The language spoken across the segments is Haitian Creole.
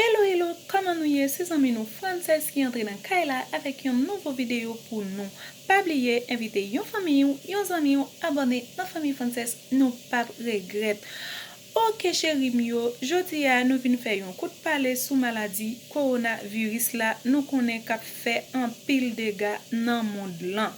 Hello hello kòman nou ye se zanmi nou Frances ki antre nan kay la avèk yon nouvo videyo pou nou pa bliye envite yon fanmiy ou yon zanmi ou abòne nan fanmiy Frances nou pap regrèt ok cheri m yo jodi a nou vin fè yon kout pale sou maladi Corona virus la nou konnen kap fè anpil dega nan mond lan.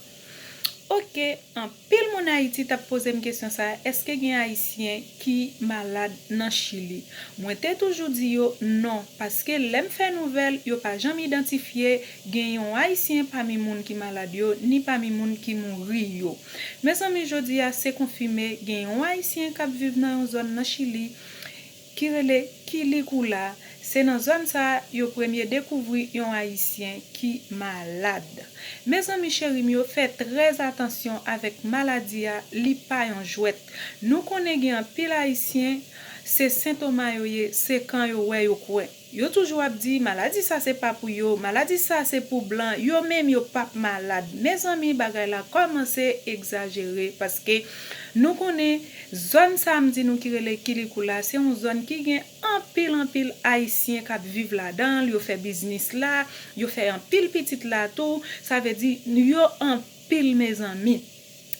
Ok anpil moun ayiti tap pozem kesyon sa eske gen ayisyen ki malad nan chili mwen te toujou di yo non paske lèm fè nouvèl yo pa janm idantifye gen yon ayisyen pami moun ki malad yo ni pami moun ki mouri yo mezanmi jodia se konfime gen yon ayisyen kap viv nan yon zòn nan chili ki rele Quilicoula, se nan zòn sa yo premye dekouvri yon ayisyen ki malad. Mezanmi cheri m yo fè trè atansyon avèk maladi a li pa yon jwèt. Nou konnen gen anpil ayisyen se sentoma yo ye se kan yo wè yo kwè. Yo toujou ap di maladi sa se pa pou yo, maladi sa se pou blan, yo menm yo pap malad. Mezanmi bagay la kòmanse egzajere paske nou konnen zòn sa a m di nou ki rele Kilikou la se yon zòn ki gen anpil anpil ayisyen k ap viv ladan l, yo fè biznis la, yo fè anpil pitit la tou, sa vle di yo anpil mezanmi.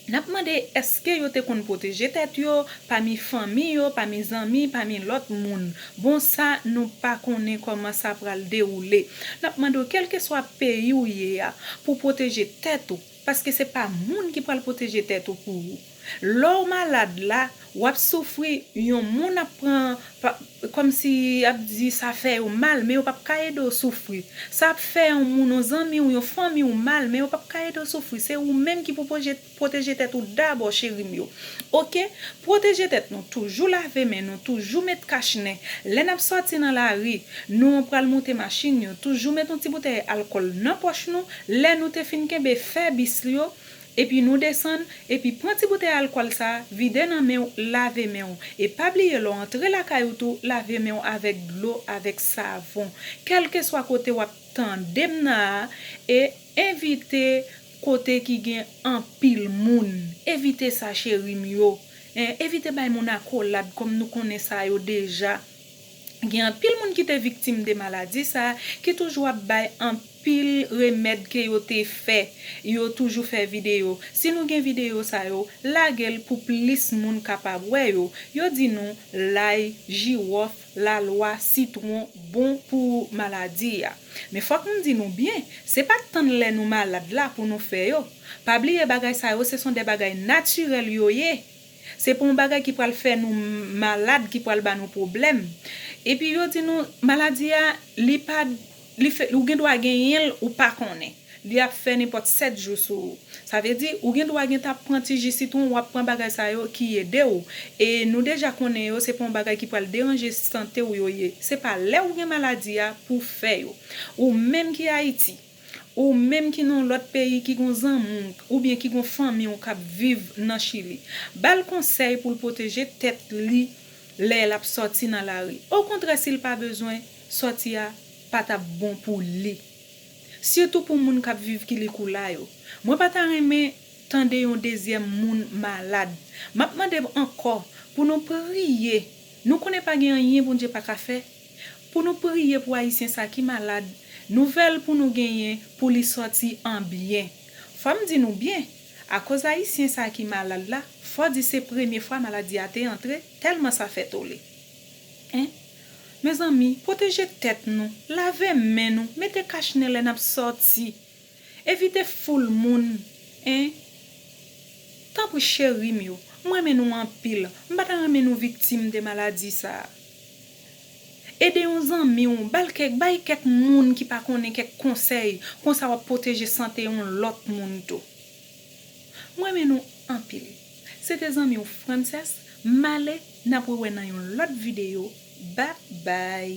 N ap mande èske yo te konn pwoteje tèt yo, pami fanmi yo, pami zanmi, pami lòt moun. Bon sa nou pa konnen kòman sa pral dewoule. N ap mande w kèlkeswa peyi w ye a pou w pwoteje tèt ou paske se pa moun ki pral pwoteje tèt ou pou ou. Lè w malad la Wap soufri yon moun ap pran kòmsi yap di sa fè yo mal men yo pap ka ede w soufri sa ap fè yon moun yon zanmi w yon fanmi w mal men yo pap ka ede w soufri se ou menm ki pou pwoteje tèt ou dabò cheri m yo ok pwoteje tèt nou toujou lave men nou toujou met kach nen lè nap sòti nan lari nou pral moute machin yo toujou met yon ti boutèy alkòl nan pòch nou lè nou te fin kenbe fè bis yo Epi nou desann, epi pran ti boutèy alkòl sa, vide nan men w, lave men w. E pa bliye lè w antre lakay ou tou, lave men w avèk dlo, avèk savon. Kèlkeswa kote w ap tande m nan a, e evite kote ki gen anpil moun. Evite sa cheri m yo. Evite bay moun akolad kòm nou konnen sa yo deja. Gen anpil moun ki te viktim de maladi sa a ki toujou ap bay anpil remèd ke yo te fè, yo toujou fè videyo. Si nou gen videyo sa yo, lage l pou plis moun kapab wè yo. Yo di nou lay, jiwòf, lalwa, sitwon bon pou maladi a. Men fòk m di nou byen, se pa tann lè nou malad la pou nou fè yo. Pa bliye bagay sa yo se son de bagay natirèl yo ye. Se pa yon bagay ki pral fè nou malad, ki pral ba nou pwoblèm. Epi yo di nou, maladi a, li pa, li fè, ou gen dwa genyen l, ou pa konnen. Li ap fè nenpòt 7 jou sou ou. Sa vle di, ou gen dwa gentan ap pran ti ji sitwon, ou ap pran bagay sa yo ki ede ou. E nou deja konnen yo, se pa yon bagay ki pral deranje sante ou yo ye. Se pa lè ou gen maladi a pou w fè yo. Ou menm ki Ayiti. Ou menm ki nan yon lòt peyi ki gen yon zanmi w oubyen ki gen yon fanmi w k ap viv nan Chili, ba l konsèy pou l pwoteje tèt li lè l ap sòti nan lari. Okontrè si l pa bezwen, sòti a pa t ap bon pou li. Sitou pou moun k ap viv Quilicura yo. Mwen pa ta renmen tande yon dezyèm moun malad. M ap mande ankò pou nou priye. Nou konnen pa gen anyen Bondye pa ka fè. Pou nou priye pou ayisyen sa ki malad nouvèl pou nou genyen pou li sòti an byen fòm di nou byen akoz ayisyen sa ki malad la fò di se premye fwa maladi a te antre tèlman sa fè tole en mezanmi pwoteje tèt nou lave men nou mete kach nen lè nap sòti evite foul moun en tanpri cherim yo m renmen nou anpil m pata renmen nou viktim de maladi sa. Ede yon zanmi w, ba l kèk, bay kèk moun ki pa konnen kèk konsèy, konsa wap pwoteje sante yon lòt moun tou. M renmen nou anpil. Se te zanmi w Frances, m ale, nap rewè nan yon lòt videyo, bby.